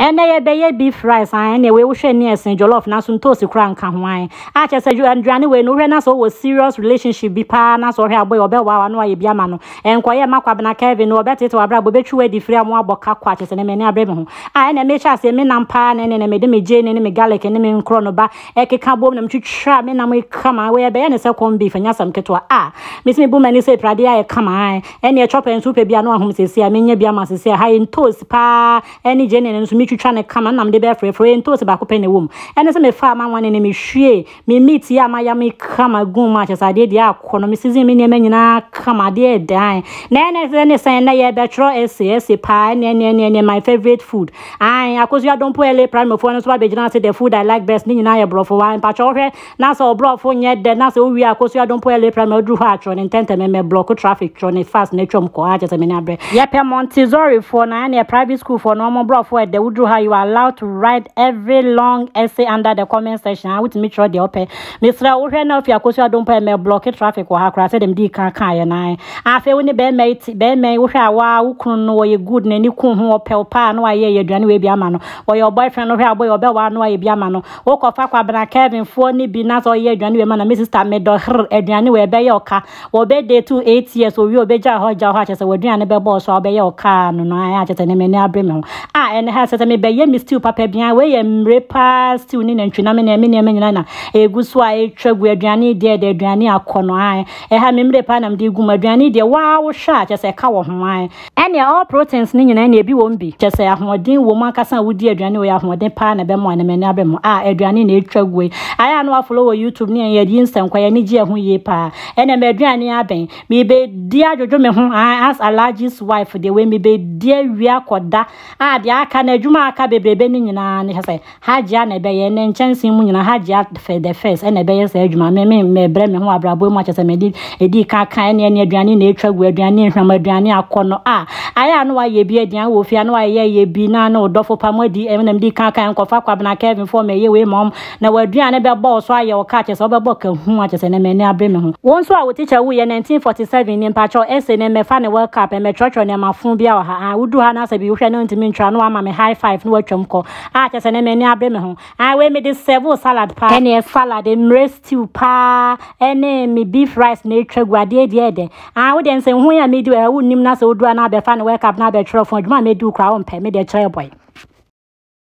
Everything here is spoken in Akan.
Ɛnɛ yɛbɛyɛ beef rice an ɛnɛ wei wohwɛ ni ɛsen jollof nanso ntoosi koraa nka ho an a kyerɛ sɛ aduane wei no wohwɛ na sɛ ɔwɔ serious relationship bi paa na sɛ ɔhwɛ abɔ yi ɔbɛwɔ awa na wayɛ bi ama no ɛnkɔyɛ ma kwabena Kevin no ɔbɛtete wabrabɔ bɛtwi wadi firi a mo abɔ ka kɔ a kyerɛ sɛ ɛnɛ m'ani abrɛ me ho a ɛnɛ mehyɛ aseɛ menam paa na ɛnɛ na mede me gyeene ne me garlic ne me nkorɔ no ba ɛkeka bom na metwitwa me nam kama wei ɛbɛyɛ ne sɛ corn beef ɛnyɛ asɛm ketewa a mesi mebu m'ani sɛ pradeɛ ayɛ kama ɛneɛ chopper nso wopɛ bi a na wahom sɛsi a menya bi ama sɛsi a ha yɛ ntoos paa ɛne gye ne no nso metwitwa ne kama nam de bɛfrɛfrɛ yɛ ntoos baako pɛ na ɛwɔ mu ɛne sɛ mefaa ma wane ne mehwie me meat yi a maya me kama gu mu akyɛ sɛ adeɛ deɛ akɔ no me season me nneɛma nyinaa kama adeɛ dan na ɛne sɛ ne sɛn na yɛbɛtwerɛ ɛse ɛse paa ɛne ɛne ɛne ɛne my favorite food Aane akosua dompo LA primary foɔ no nso abɛgyina se the food I like best ne nyinaa yɛ borɔfo waa mpakyɛ wohwɛ na sɛ ɔborɔfo nyɛ dɛ na sɛ wowie akosua dompo LA primary woduru hɔ a twerɛ no ntɛntɛm mmɛ blɔko traffic twerɛ no fast na twam kɔ aa kyɛ sɛ m'ani abrɛ yɛpɛ Montessori foɔ no ɛneɛ private school foɔ no ɔmo borɔfo ɛdɛ woduru hɔ a you are allowed to write every long essay under the comment section aa wotumi twerɛ deɛ wopɛ Mesrɛ wo hwɛ na ofi akosu adom pa ɛmɛ blɔke traffic wɔ ha koraa sɛ dem dii kan kaa yɛ nan afei wo ne bɛrima yi ti bɛrima yi wohwɛ a waa wo kunu no wɔyɛ good na ni kun ho ɔpɛw paa na wayɛ yɛ aduane wei bi ama no wɔyɛ ɔbɔ ɛfɛn no hwɛ a ɔbɔ yi ɔbɛ waa no ayɛ bi ama no wokɔ fa kwa bena Kevin foɔ ne bi na sɛ ɔyɛ aduane wei ma na me sister me dɔ hrr aduane wei ɛbɛ yɛ ɔka Wɔ birthday to eight years owie obegyaa hɔ gyaa hɔ a kyerɛ sɛ w'aduane no bɛbɔ ɔso a wobɛyɛ wo kaa no no a ɛyɛ kyerɛ sɛ ne m'ani abere me ho a ɛne ha sɛ sɛ mebɛyɛ me stew papa bi a wei yɛ mmere paa stew ne nantwi nam ne me nneɛma nyinaa na egu so a etwa gu aduane yi deɛ ɛda aduane akɔ no a ɛha me mmere paa nam de gu mu aduane yi deɛ waa wohwɛ a kyerɛ sɛ ɛka wɔ ho a Ɛneɛ all proteins no nyinaa neɛ ebi wom bi, kyɛsɛ ahoɔden wom ankasa a wodi aduane wei ahuɔden paa na ɛbɛmoa na m'ani abɛ mo ah aduane na etwa agu ei ayɛ a na wa follow wɔ youtube ne yɛn yɛyi nsɛnkwa yɛn ani gye ɛho yie paa ɛneɛ m'aduane abɛn mebɛ di adwodwo me ho aah as Alhaji's wife deɛ wei mebɛ di awie akɔda ah deɛ aka no adwuma a aka bebrebe no nyinaa no hwɛ sɛ Hajia na ɛbɛyɛ, ne nkyɛnsee mu nyinaa Hajia the first na ɛbɛyɛ saa adwuma, me me mɛbrɛ me ho abrabɔ mu akyɛ sɛ mede ɛdi ka ka ɛne ɛne aduane na ɛtwa gu aduane nhwam aduane akɔ no a ayɛ a na wayɛ bi aduane wɔ fie a na wayɛ yɛ bi na na ɔdɔfo pa moadi ɛme na mede ka ka nkɔfa kwabena Kevin fɔ mɛyɛ wei ma ɔm na waduane bɛbɔ wo so ayɛ wo ka akyɛ sɛ wobɛbɔ ka hu akyɛ sɛ na mɛne abre me ho wo nso a wo tikya wu yɛ 1947 ni mpakyɛw ɛse ne mɛfa ne world cup ɛmɛtwerɛtwerɛ nneɛma fo bia wɔ ha aa wodu ha na asɛ bi wohwɛ ne ntumi ntwerɛ a na wama me high five na watwam kɔ Ah kyɛ sɛ nɛ m'ani abere me ho. Ah wei mede sɛvo salad paa. Ɛneɛ salad, mmerɛ stew paa ɛne me beef rice na atwa gu adeɛ deɛ ɛdɛ. Ah wo deɛ nsɛnhuhuo yi a medi wɔ ha wonnim na sɛ woduru a na abɛfa ne world cup na abɛtwerɛ fon adwuma a medi wo koraa wompɛ, me deɛ kyerɛ boy.